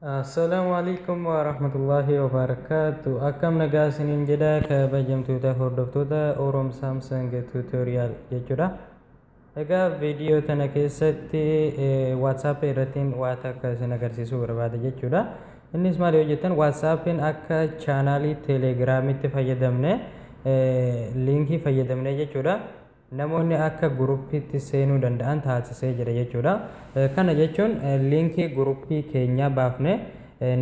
Assalaamu alaikum wa rahmatullahi wa barakaatu. Akkam nagaa isiniin jedha kabajamtoota hordoftoota Orom Samsung Tutorial jechuudha. Egaa viidiyoo tana keessatti WhatsApp irrattiin waa takka isin agarsiisuu barbaada jechuudha. Innis maal yoo jettan WhatsAppin akka chaanaalii Telegiraamitti fayyadamne liinkii fayyadamne jechuudha. namoonni akka guruppiitti seenuu danda'an taasisee jira jechuudha. Kana jechuun liinkii guruppii keenyaa baafne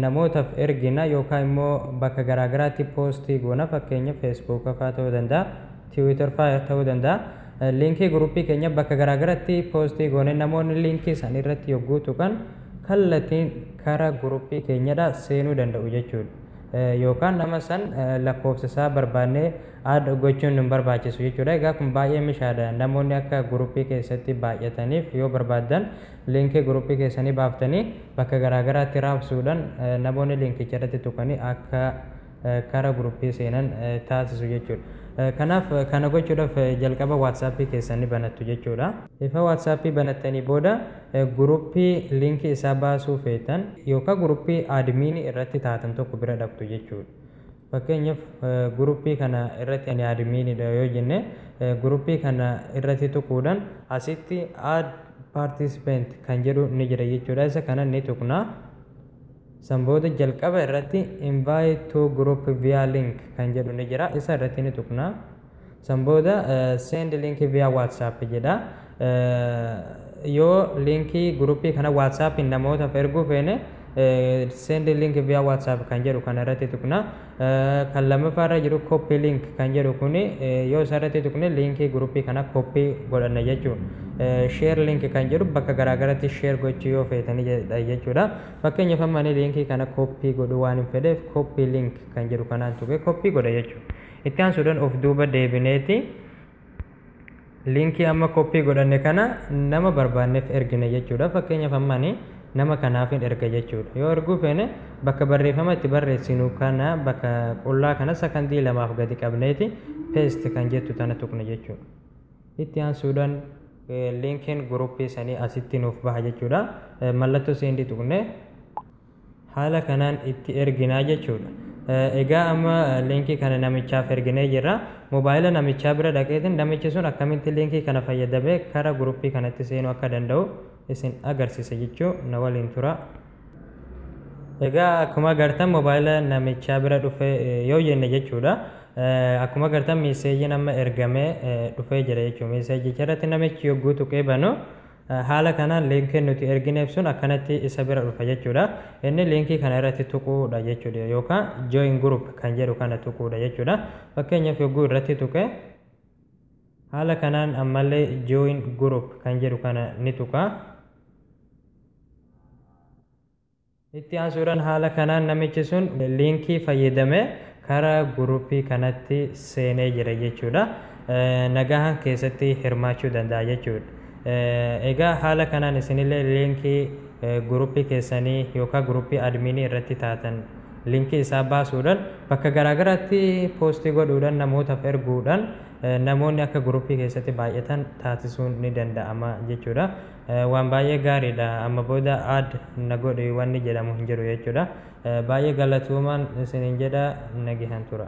namootaf ergina yookaa immoo bakka garaa garaatti poostii goona fakkeenya feesbuuka faa ta'uu danda'a, tiwiitar faa ta'uu danda'a. Liinkii guruppii keenya bakka garaa garatti poostii goone namoonni liinkii san irratti yogguu tuqan kallatiin kara guruppii keenyadha seenuu danda'u jechuudha. Yookaan nama san lakkoofsa isaa barbaannee add gochuun hin barbaachisu jechuudha. Egaa kun baay'ee mishaadha. Namoonni akka guruppii keessatti baay'ataniif yoo barbaaddan liinkii guruppii keessanii baaftanii bakka garaa garaatti raabsuudhaan namoonni liinkicha irratti tuqanii akka kara guruppii seenan taasisu jechuudha. Kanaaf kana gochuudhaaf jalqaba WhatsApp keessan ni banattu jechuudha. Efa WhatsApp banattanii booda guruppii liinkii isaa baasuu feetan yookaan guruppii admin irratti taatan tokko bira dhaqxu jechuudha. Fakkeenyaf group kana irratti ani admin dha yoo jenne group kana irratti tuquudhan asitti add participant kan jedhu ni jira jechuudha isa kana ni tuqna san booda jalqaba irratti invite to group via link kan jedhu ni jira isa irratti ni tuqna. San booda send link via WhatsApp jedha. Yoo linkii guruppii kana WhatsAppiin namootaaf erguu feene send link via WhatsApp kan jedhu kana irratti tuqna. Kan lammaffaa irra jiru copy link kan jedhu kuni yoo isa irratti tuqne linkii guruppii kana copy godhanna jechuudha. Share link kan jedhu bakka garaagaratti share gochuu yoo feetanii jechuudha. Fakkeenyaaf amma ani linkii kana copy godhuu waan hin fedheef copy link kan jedhu kanaan tuqee copy godha jechuudha. Itti aansuudhaan of duuba deebineeti liinkii amma koppii godhanne kana nama barbaanneef ergina jechuudha. Fakkeenyaaf amma ani nama kanaafin erga jechuudha. Yoo erguu feene bakka barreeffama itti barreessinu kana bakka qullaa kana sakandii lamaaf gadi qabneeti paste kan jettu tana tuqna jechuudha. Itti aansuudhaan liinkiin guruppii sanii asitti nuuf baha jechuudha. Mallattoo seendii tuqne. haala kanaan itti erginaa jechuudha. Egaa amma liinkii kana namichaaf erginee jirra. Mobaayila namichaa bira dhaqeetiin namichi sun akkamitti liinkii kana fayyadamee kara guruppii kanatti seenuu akka danda'u isin agarsiisa jechuu na waliin tura. Egaa akkuma agartan mobaayila namichaa bira dhufee yoo jenne jechuudha. Akkuma agartan miiseejiin amma ergamee dhufee jira jechuudha. Miiseejicha irratti namichi yogguu tuqee banu Haala kanaan liinkiin nuti ergineef sun akkanatti isa bira dhufa jechuudha. Inni liinkii kana irratti tuquudha jechuudha yookaan join group kan jedhu kana tuquudha jechuudha. Fakkeenyaaf yogguu irratti tuqe haala kanaan ammallee join group kan jedhu kana ni tuqa. Itti aansuudhaan haala kanaan namichi sun liinkii fayyadamee kara guruppii kanatti seenee jira jechuudha. Nagahaan keessatti hirmaachuu danda'a jechuudha. Egaa haala kanaan isinillee liinkii guruppii keessanii yookaan guruppii admiinii irratti taatan liinkii isaa baasuudhaan bakka garaagaraatti poostii godhuudhaan namootaaf erguudhaan namoonni akka guruppii keessatti baay'atan taasisuun ni danda'ama jechuudha. Waan baay'ee gaariidha amma booda add na godhi wanni jedhamu hin jiru jechuudha. Baay'ee galatoomaan isiniin jedha nagehan tura.